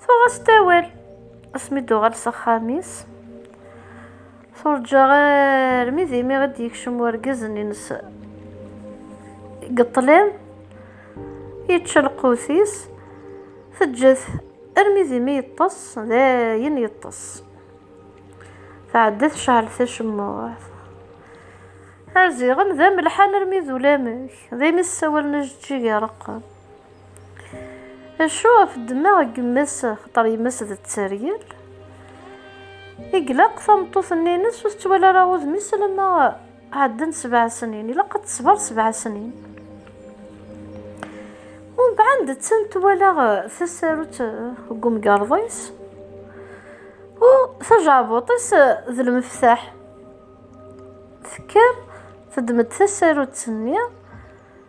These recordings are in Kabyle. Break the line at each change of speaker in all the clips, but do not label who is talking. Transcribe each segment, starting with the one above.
Tuɣ-as-d awal. Asmi d-tuɣal s axxam-is, turǧa armi d imi i d-yekcem urgaz-nni-ines deg ṭṭlam, yečča lqut-is, teǧǧa-t armi d imi yeṭṭes, dayen yeṭṭes. Tɛedda tecɛel tacemmuɛt. Arziɣen d amelḥan armi d ulamek, daymi ssawalen ajeǧǧig ireqqen. Acu ɣef ddemmeɣ n yemma-s xaṭer yemma-s d tteryel? I ilaq tameṭṭut-nni-ines ur tettwali ara udem-is alamma ɛeddan sebɛa snin. Ilaq ad tesber sebɛa snin. Umbeɛd d tin twala tasarut deg umgerḍ-is u tajeɛbuṭ-is d lmeftaḥ. Tekker teddem-d tasarut-nni.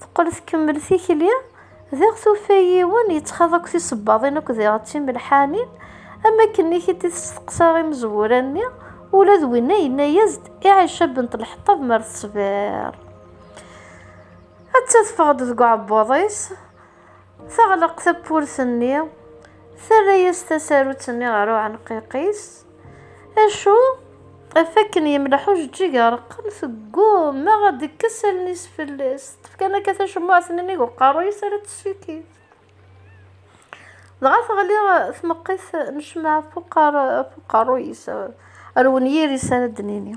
Teqqel tkemmel tikli, diɣ tufa yiwen yettxaḍ akk tisebbaḍin akk diɣ d timelḥanin, am wakken i t-id-testeqsa imezwura-nni, ula d winna yenna-as-d i Ɛica bint Lḥeṭṭab mer teṣbir, atta teffeɣ-d deg uɛebbuḍ-is. Teɣleq tawwurt-nni, terra-as tasarut-nni ɣer uɛenqiq-is. Acu? Ɣef wakken yemleḥ ujeǧǧig areqqem, tegguma ad d-tekkes allen-is fell-as. Teṭṭef kan akka tacemmuɛt n nnig uqerruy-is ara tessikid. Dɣa teɣli tmeqqit n ccemɛa ɣef uqerruy-is, ar wenyir-is ara d-nini.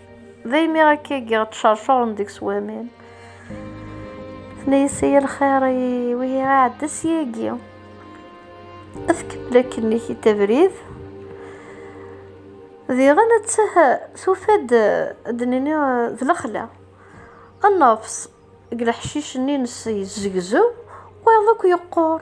D imi akka i giɣ ttcercuren deg-s waman. Tenna-yas ay lxir ay wihi iɛedda syagi. Ad tkemmel akken-ik i tabrid. Diɣen ad tah tufa-d ad nini d lexla. Nnefs deg leḥcic-nni-nnes yezzegzew, wayeḍ akk yeqqur.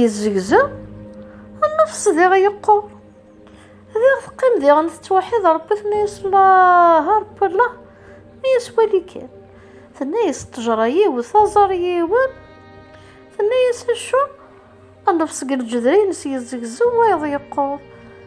Yezzegza nnefs diɣ yeqqur. Diɣ teqqim diɣen tettwaḥid Rebbi tenna-yas Allah a Rebbi Allah mi yeswali kan. Tenna-yas ṭṭejra yiwet aẓar yiwen. Tenna-yas acu nnefs deg leǧder-ines yezzegzew wayeḍ yeqqur.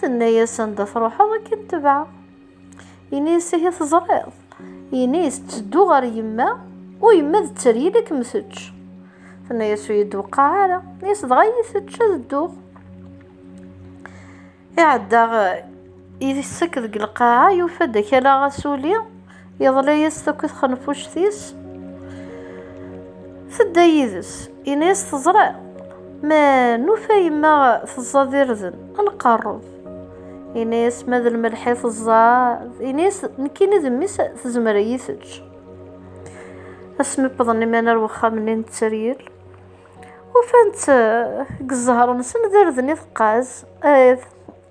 Tenna-yas anda truḥeḍ ad k-id-tebɛeɣ. Ini-yas ihi teẓriḍ. Ini-yas tteddu ɣer yemma u yemma d tteryel ad kem-tečč. Tenna-yas ur yi-d-weqqeɛ ara. Ini-yas dɣa iyi-tečč ad dduɣ. Iɛedda isek deg lqaɛa yufa-d akalaɣ asuli. Yeḍla-yas takk i txenfuct-is, tedda yid-s. Yenna-yas teẓriḍ, ma nufa yemma teẓẓad irden, ad nqerreb. Yenna-yas ma d lmelḥ i teẓẓad, yenna-yas nekkini d mmi-s tezmer ad iyi-teǧǧ. Asmi wwḍen iman ar wexxam-nni n tteryel, ufan-tt deg zzher-nsen d irden i teqqaz,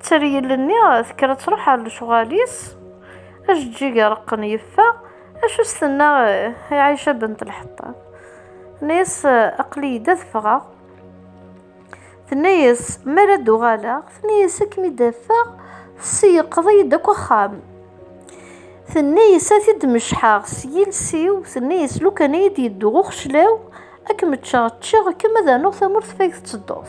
Tteryel-nni tekker ad truḥ ɣer lecɣal-is. Ajeǧǧig ireqqen yeffeɣ. Acu s-tenna i Ɛica Bent Lḥeṭṭab? Tenna-yas, Aql-iyi-d ad ffɣeɣ. Tenna-yas, Mi ara d-uɣaleɣ. Tenna-yas, Ad kem-id-afeɣ. Tesseyyeqeḍ-iyi-d akk axxam. Tenna-yas, Ad t-id-mecḥeɣ s yiles-iw. Tenna-yas, Lukan ad yi-d-yeddu uxeclaw, ad kem-ččeɣ. Ččiɣ-kem ad rnuɣ tamurt ɣef ay tettedduḍ.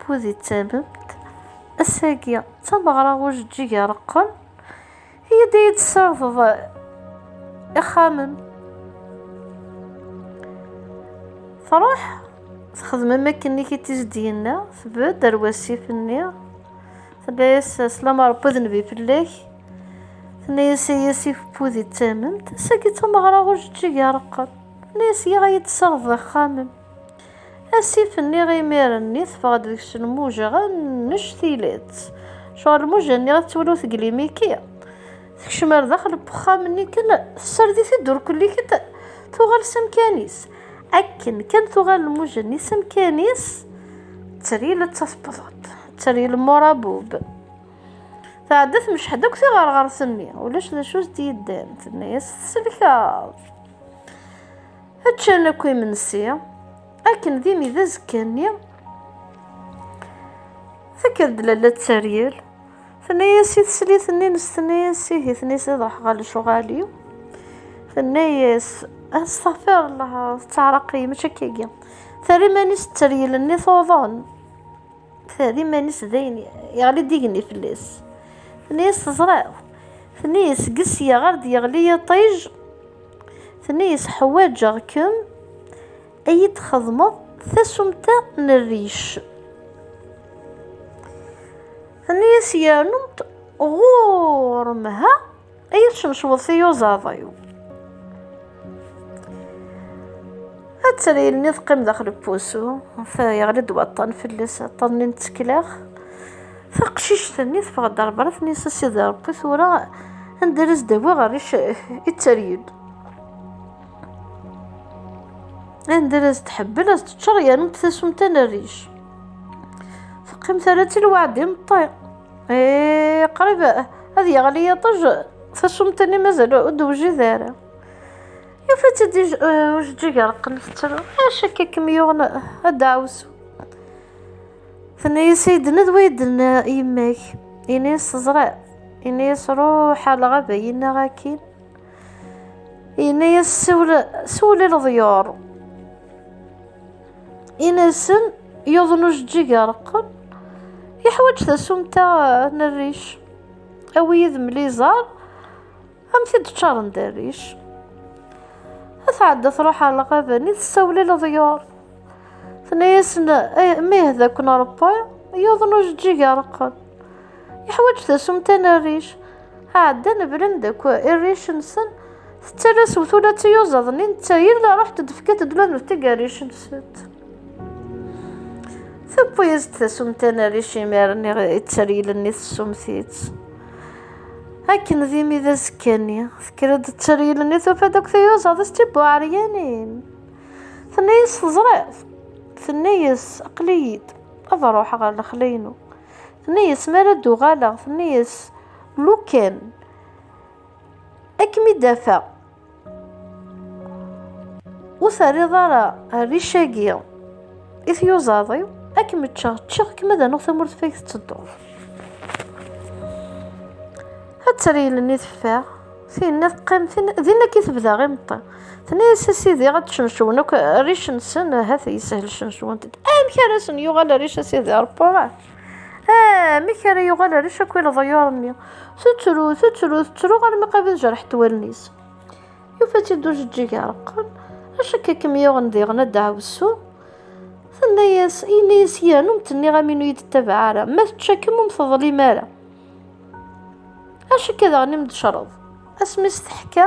Pudi d tamemt, ass-agi d tameɣra ujeǧǧig ireqqen, iyi-d ad iyi-d-tessardeḍ ixxamen. Truḥ texdem am akken i t-id-yenna, tbedd ar wasif-nni, tenna-yas slama Rebbi d nnbi fell-ak, tenna-yas ay asif Pudi d tamemt, ass-agi d tameɣra ujeǧǧig ireqqen, tenna-yas yiɣ ad iyi-d-tessardeḍ ixxamen. Asif-nni imir-nni teffeɣ-d deg-s lmuja annect tileḍ. Cɣel lmuja-nni ad twaliḍ teglimi-k-i. Tekcem ar daxel n wexxam-nni kan, tessard-it i ddurkulli kan, tuɣal s amkan-is. Akken kan tuɣal lmuja-nni s amkan-is, ttril ad tasbeḍ-d, ttril murabub. Tɛedda tmecḥed akk tiɣerɣert-nni, ulac d acu as-d-yeddan, tenna-as tselkeḍ. Ččan akk imensi, akken d imi d azekka-nni. Tekker-d lalla d taryel, tenna-yas i teslit-nni nes tenna-yas ihi tenna-yas ad ruḥeɣ ɣer lecuɣal-iw. Tenna-yas astaɣfir Allah tettaɛraq-iyi mačči akka-agi. Terra iman-is d taryel-nni tuḍen. Terra iman-is d ayen yeɣli d igenni fell-as. Tenna-yas teẓriḍ. Tenna-yas seg sya ɣer d-yeɣli yiṭij. Tenna-yas, Ḥwaǧeɣ-kem ad yi-d-txedmeḍ tasumta n rric. Tenna-yas, Yernu ɣur-m ha ad yi-tcemceḍ tiyuzaḍ-iw. Ad tali ilni teqqim daxel n wusu, yeɣli-d waṭṭan fell-as, aṭṭan-nni n tsekla. Taqcict-nni teffeɣ-d ɣer berra, tenna-as a Sidi Ṛebbi, tura anda ara s-d-awiɣ rric i tteryel. Anda ara s-d-tḥebbel, ad s-d-teččeṛ yernu tasumta n rric. Teqqim terra-tt i lweɛd imeṭṭi. Eh, qrib ad yeɣli yiṭij, tasumta-nni mazal ur d-tewjid ara. Yufa-tt-id ujeǧǧig ireqqen tettru, acu akka i kem-yuɣen a ddaɛwessu? Tenna-yas Aiden ad waiden yemma-k. Ini-yas teẓriḍ. Ini-yas ruḥ ar lɣaba yenna akin. Ini-yas siwel i leḍyur. Ini-asen yuḍen ujeǧǧig areqqen. Yeḥwaǧ tasumta n rric. Awi yid-m liẓar. Am tid ččaren d rric. A tɛedda truḥ ɣer lɣaben i tessawlel ḍyur. Tenna-yasen eh, mih d akk nṛebba yuḍen ujeǧǧig areqqen. Yeḥwaǧ tasumta n rric. Ɛeddan blan d akk irric-nsen tettara s wtula d tiyuzaḍ-nni netta yella ruḥ d-tefka-t d laneftig rric-nsent. Tewwi-as-d tasumta n rric imir-nni ittarilen i tessumti-tt. Akken d imi d azekka-nni, tekker-d tteryel-nni tufa-d akk tiyuzaḍ s tibuɛeryanin. Tenna-yas teẓriḍ, tenna-yas aql-iyi-d ad ruḥeɣ ɣer lexla-inu. Tenna-yas mi ara d-uɣaleɣ, tenna-yas lukan ad kem-id-afeɣ. Ur terriḍ ara rric-agi i tyuzaḍ-iw, ad kem-ččeɣ, ččeɣ kem ad anuɣ tamurt fag tettedduḍ. Ad treylen i teffeɣ, tinna teqqim, tinna din akka i tebda imeṭṭi. Tenna-yas a sidi ad cencewen akk rric-nsen, ahat yeshel cencewen-t-id. Amek ara sen-yuɣal rric a sidi Ṛebbi? Ah, amek ara yuɣal ar acak i leḍyur-nni? Tettru, tettru, tettru armi qrib ad jerḥet wallen-is. Yufa-tt-id ujeǧǧig areqqen, acak i kem-yuɣen diɣen a ddaɛwessu. Tenna-yas, yenna-yas yiran ur m-tenniɣ am inu yi-d-ttabaɛ ara, ma tečča-kem ur m-teḍlim ara. Acak daɣen i m-d-tecreḍ, asmi s-teḥka.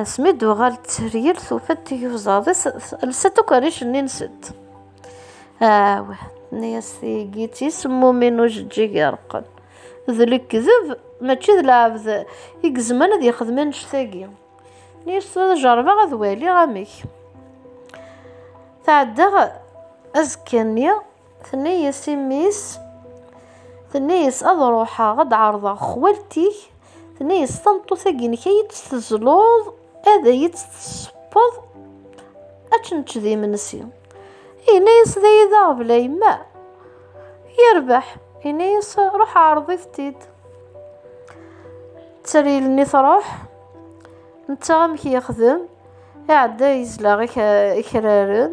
Asmi d-tuɣal tteryel tufa-d tiyuzaḍ-is lsant akk rric-nni nsent. Aw, tenna-yas tigi d tismumin ujeǧǧig ireqqen. D lekdeb mačči d lɛebd i gezman ad yexdem annect-agi. Tenna-yas tura ad jerbeɣ ad waliɣ amek. Tɛedda azekka-nni Tenna-yas i mmi-s, tenna-yas ad ruḥeɣ ad d-ɛerḍeɣ xwalti-k, tenna-yas tameṭṭut-agi-inek ad iyi-tt-tezluḍ, ad iyi-tt-tessewweḍ, ad nečč d imensi. Yenna-yas d ay d aɣbel a yemma, yerbeḥ, yenna-yas ruḥ ɛerḍit-t-id. Tteryel-nni truḥ, netta amek yexdem, iɛedda yezleɣ ikraren,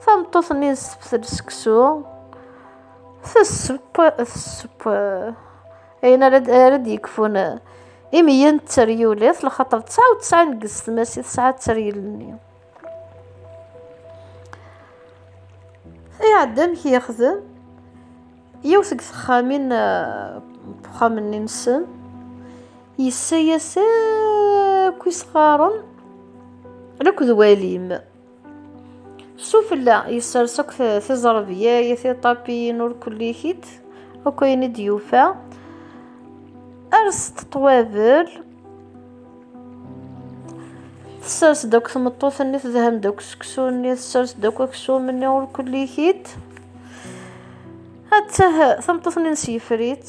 Tameṭṭut-nni tesseftel seksu, tessepp, tessepp ayen ara d-yekfun imeyyen d teryulit, lxaṭer tesɛa u tesɛin deg yessetmas i tesɛa d teryel-nni. Iɛedda amek yexdem yiwet seg texxamin uxxam-nni eh, nsen yessa-yas akk isɣaren akk d walim. Sufella yessers akk tiẓerbya i tiṭapiyin ur kullikit akk ayen i d-yufa erset ṭwabel tessers-d akk tmeṭṭut-nni tedhem-d akk seksu-nni tessers-d akk aksum-nni ur kullikit attah tameṭṭut-nni nesifrit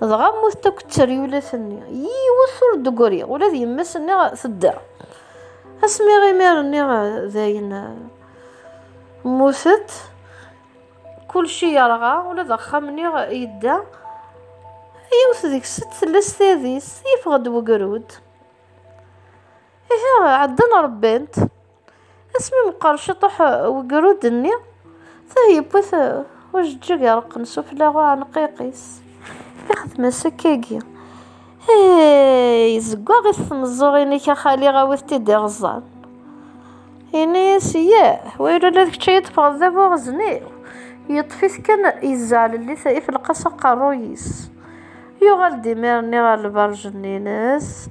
Dɣa mmut-d akk tteryulat-nni. Yiwet ur d-ggriɣ, ula d yemma-s-nni tedda. Asmi imir-nni dayen mmutet, kulci yerɣa, ula d axxam-nni yedda. Yiwet deg-sent tella s tadist, yeffeɣ-d wegrud. Ihi ɛeddan ṛebbant. Asmi meqqer ciṭuḥ wegrud-nni, tah yewwi-t ujeǧǧig ireqqen sufella uɛenqiq-is. Ixdem-as akkagi. Hey, zeggaɣ-it tmeẓẓuɣin-ik a xali awit-t-id iɣeẓẓan. Ini-as, yah, wayla ula d kečč ay d-teffɣeḍ d abuɣezen-iw. Yeṭṭef-it kan yezzeɛlel-it ifelqas aqerruy-is. Yuɣal-d imir-nni ɣer lberǧ-nni-ines.